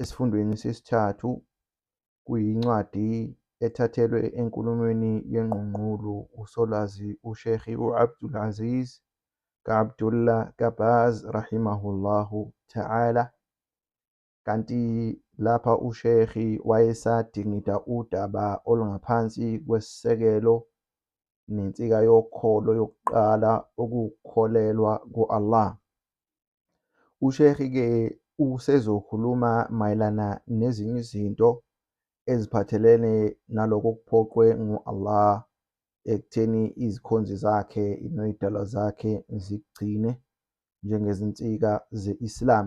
esifundweni sesithathu kuyincwadi ethathelwe enkulumweni yengqungqulu uSolwazi uSheikh u-Abdul Aziz ka-Abdullah Kabaz rahimahullahu ta'ala kanti lapha uSheikh wayesadingida udaba olungaphansi kwesisekelo nensika yokholo yokuqala ukukholelwa ku-Allah USheikh-ke usezokhuluma mayelana nezinye izinto eziphathelene naloko okuphoqwe ngu-Allah ekutheni izikhonzi zakhe noyidalwa zakhe zikugcine njengezinsika ze-Islam.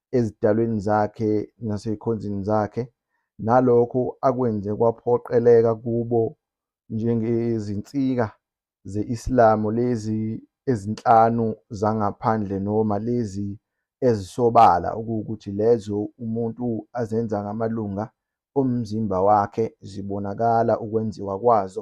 ezidalweni zakhe nasezikhonzini zakhe, nalokho akwenze kwaphoqeleka kubo njengezinsika ze-Islamu lezi ezinhlanu zangaphandle noma lezi ezisobala okuwukuthi lezo umuntu azenza ngamalunga omzimba wakhe zibonakala ukwenziwa kwazo,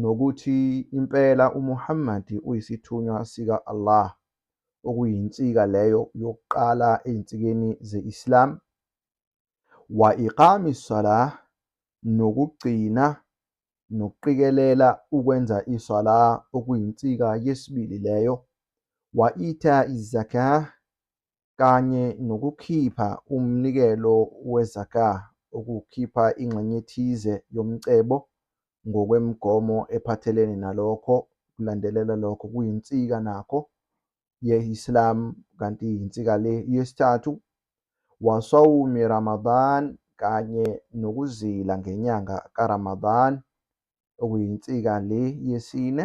nokuthi impela uMuhammad uyisithunywa sika-Allah, okuyinsika leyo yokuqala ezinsikeni ze-Islam, wa iqami salah, nokugcina nokuqikelela ukwenza iswala okuyinsika yesibili leyo, wa ita izakah, kanye nokukhipha umnikelo we-zakah, ukukhipha ingxenye ethize yomcebo ngokwemigomo ephathelene nalokho, kulandelela lokho kuyinsika nakho ye-Islam, kanti yinsika le yesithathu, wa sawmi Ramadan, kanye nokuzila ngenyanga ka-Ramadan, okuyinsika le yesine,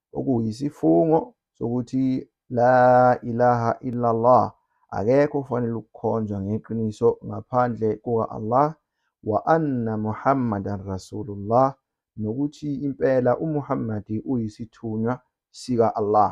okuyisifungo sokuthi La ilaha illallah akekho ufanele ukukhonzwa ngeqiniso ngaphandle kuka-Allah wa anna Muhammadan Rasulullah nokuthi impela uMuhammad uyisithunywa sika-Allah.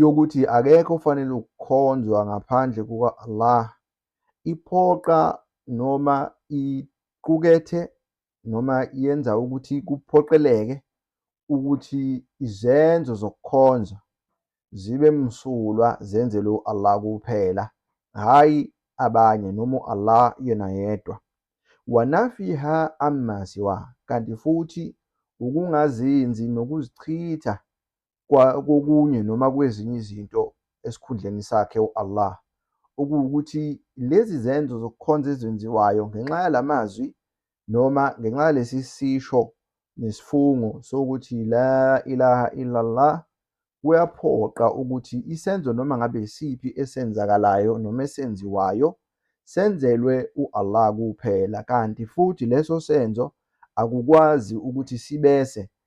yokuthi akekho ofanele ukukhonzwa ngaphandle kuka-Allah iphoqa noma iqukethe noma yenza ukuthi kuphoqeleke ukuthi izenzo zokukhonza zibe msulwa zenzelwe u-Allah kuphela hhayi abanye noma u-Allah yena yedwa wanafiha amma siwa kanti futhi ukungazinzi nokuzichitha kokunye noma kwezinye izinto esikhundleni sakhe u-Allah, okuwukuthi lezi zenzo zokukhonza ezenziwayo ngenxa yala mazwi noma ngenxa yalesi sisho nesifungo sokuthi la ilaha illallah kuyaphoqa ukuthi isenzo noma ngabe isiphi esenzakalayo noma esenziwayo senzelwe u-Allah kuphela kanti futhi leso senzo akukwazi ukuthi sibese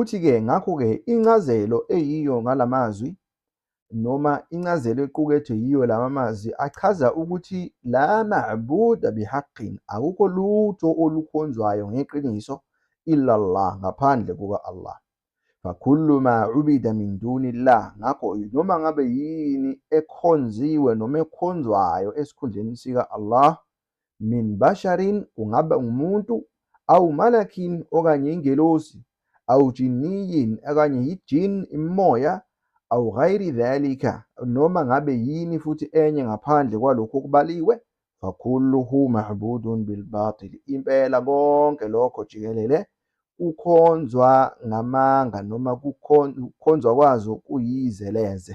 Uthi-ke, ngakho-ke, incazelo eyiyo ngala mazwi, noma incazelo equkethwe yiyo lama mazwi, achaza ukuthi la ma'buda bihaqqin, akukho lutho olukhonzwayo ngeqiniso, illallah, ngaphandle kuka-Allah. Fakullu ma ubida min dunillah, ngakho noma ngabe yini ekhonziwe noma ekhonzwayo esikhundleni sika-Allah, min basharin kungaba umuntu awu malakin okanye ingelosi awu jinniyin okanye yijin imimoya awu ghayri dhalika noma ngabe yini futhi enye ngaphandle kwalokhu okubaliwe fakulluhu mahbudun bilbatil impela konke lokho jikelele kukhonzwa ngamanga noma kukhonzwa kwazo kuyizeleze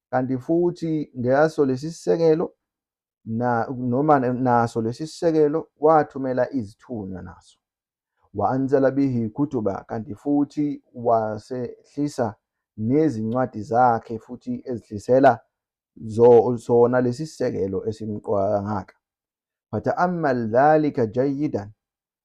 kanti futhi ngaso lesi sisekelo na noma naso lesi sisekelo wathumela izithunywa naso waanzala bihi kutuba kanti futhi wasehlisa nezincwadi zakhe futhi ezihlisela zona lesi sisekelo esimqoka kangaka fata'ammal dhalika jayidan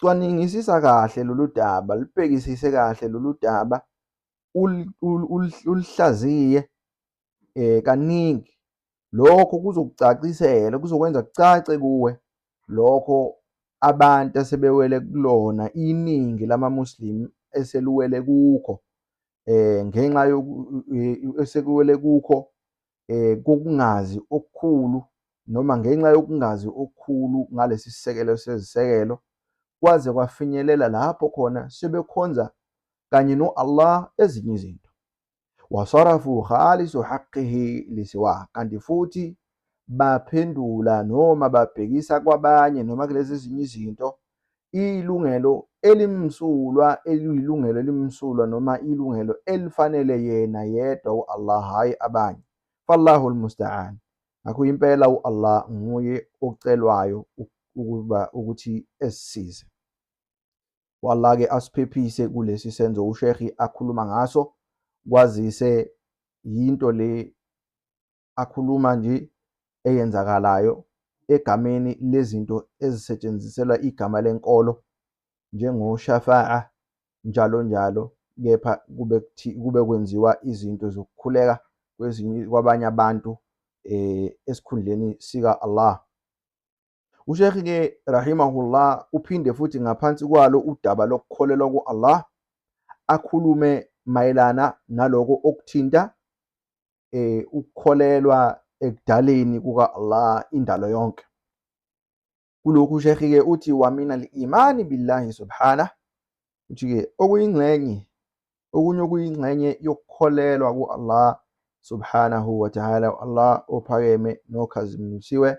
cwaningisisa kahle lolu daba, lubhekisise kahle lolu daba, ulihlaziye um kaningi. Lokho kuzokucacisela, kuzokwenza kucace kuwe lokho abantu asebewele kulona, iningi lama-Muslim eseliwele kukho um ngenxa esekuwele kukho kokungazi okukhulu noma ngenxa yokungazi okukhulu ngalesi sisekelo sezisekelo, kwaze kwafinyelela lapho khona sebekhonza kanye no-Allah ezinye izinto. Wasarafu khalisu haqqihi lisiwa, kanti futhi baphendula noma babhekisa kwabanye noma kulezi ezinye izinto iyilungelo elimsulwa eliyilungelo elimsulwa noma ilungelo elifanele yena yedwa u-Allah hhayi abanye fallahu lmusta'an ngakho impela u-Allah nguye ocelwayo ukuba ukuthi esisize u-Allah-ke asiphephise kulesi senzo ushekhi akhuluma ngaso kwazise yinto le akhuluma nje eyenzakalayo egameni lezinto ezisetshenziselwa igama lenkolo njengoShafa'a njalo njalo kepha kube kube kwenziwa izinto zokukhuleka kwezinye kwabanye abantu eh esikhundleni sika Allah uSheikh ke rahimahullah uphinde futhi ngaphansi kwalo udaba lokukholelwa kuAllah akhulume mayelana naloko okuthinta eh ukukholelwa ekudaleni kuka Allah indalo yonke kulokhu shekhi ke uthi wamina al-imani billahi subhana uthi ke okuyingxenye okunye okuyingxenye yokukholelwa ku Allah subhanahu wa ta'ala Allah ophakeme nokhazimisiwe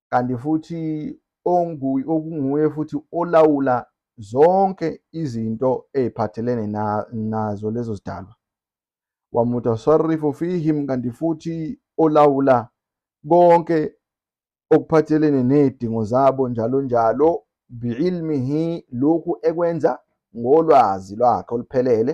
kanti futhi okunguye futhi olawula zonke izinto ey'phathelene nazo lezo zidalwa wamutasarifu fihim kanti futhi olawula konke okuphathelene nezidingo zabo njalo njalo biilmihi lokhu ekwenza ngolwazi lwakhe oluphelele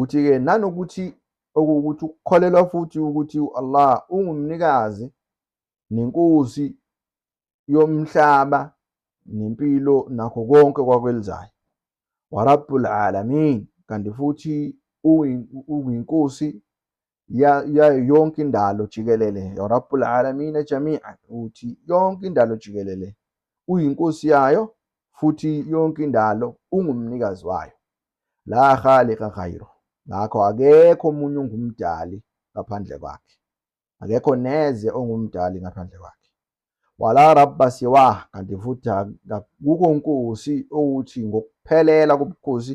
Uthi-ke nanokuthi okuwukuthi ukukholelwa futhi ukuthi u-Allah ungumnikazi nenkosi yomhlaba nempilo nakho konke kwakwelizayo warabbul alamin kanti futhi uyinkosi yayo yonke indalo jikelele ya rabbul alamina jami'an ukuthi yonke indalo jikelele uyinkosi yayo futhi yonke indalo ungumnikazi wayo la khaliqa ghayru ngakho akekho omunye ongumdali ngaphandle kwakhe akekho neze ongumdali ngaphandle kwakhe wala rabba siwa kanti futhi akukho nkosi ukuthi ngokuphelela kobukhosi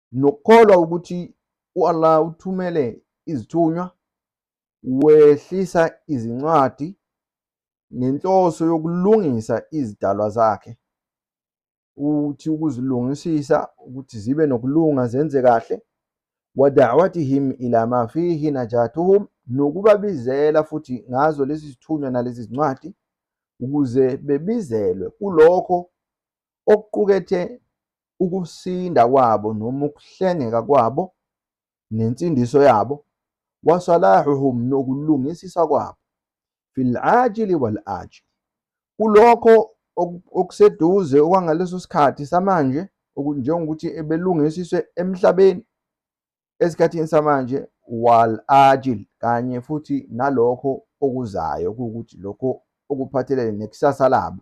nokukholwa ukuthi u-Allah uthumele izithunywa, wehlisa izincwadi ngenhloso yokulungisa izidalwa zakhe, ukuthi ukuzilungisisa ukuthi zibe nokulunga zenze kahle, wadawatihim ila ma fihi najatuhum, nokubabizela futhi ngazo lezi zithunywa nalezi zincwadi ukuze bebizelwe kulokho okuqukethe ukusinda kwabo noma ukuhlengeka kwabo nensindiso yabo, wa salahuhum nokulungisisa kwabo, fil ajili wal ajil, kulokho okuseduze okwangaleso sikhathi samanje, njengokuthi ebelungisiswe emhlabeni esikhathini samanje, wal ajil, kanye futhi nalokho okuzayo, kuwukuthi lokho okuphathelene nekusasa labo,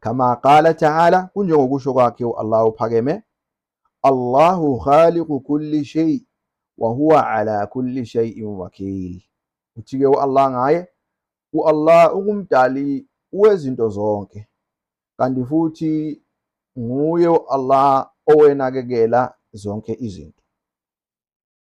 kama qala taala, kunjengokusho kwakhe u-Allah uphakeme, Allahu khaliqu kulli shay wa huwa ala kulli shay'in wakil. Uthi-ke u-Allah ngaye, u-Allah ungumdali wezinto zonke, kanti futhi nguye u-Allah owenakekela zonke izinto.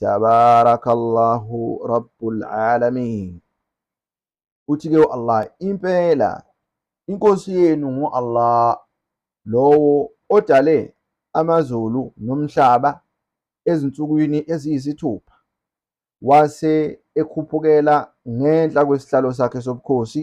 Tabarakallahu Rabbul Alamin. Uthi-ke u-Allah, impela inkosi yenu ngu-Allah lowo odale amazulu nomhlaba ezinsukwini eziyisithupha wase ekhuphukela ngenhla kwesihlalo sakhe sobukhosi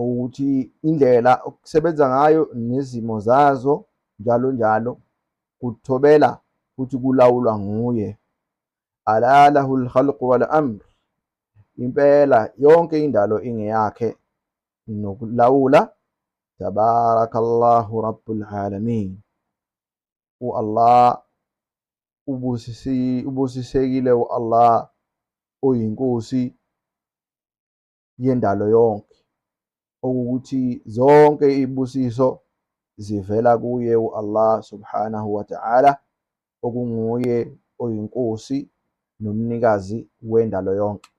ukuthi indlela okusebenza ngayo nezimo zazo njalo njalo kuthobela futhi kulawulwa nguye alalahu lhalqu wal amr impela yonke indalo ingeyakhe nokulawula tabarakallahu rabbul alamin u-allah ubusisekile u-allah oyinkosi yendalo yonke, okuwukuthi zonke izibusiso zivela kuye u-Allah subhanahu wa ta'ala, okunguye oyiNkosi nomnikazi wendalo yonke.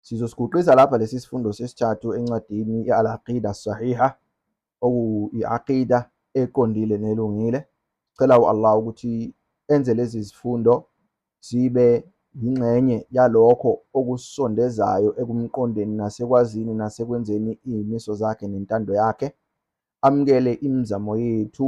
Sizosiguqisa lapha lesi sifundo sesithathu encwadini i-Al-Aqida Sahiha okuyi-aqida eqondile nelungile. Sicela u-Allah ukuthi enze lezi zifundo zibe yingxenye yalokho okusondezayo ekumqondeni nasekwazini nasekwenzeni iy'miso zakhe nentando yakhe. Amukele imizamo yethu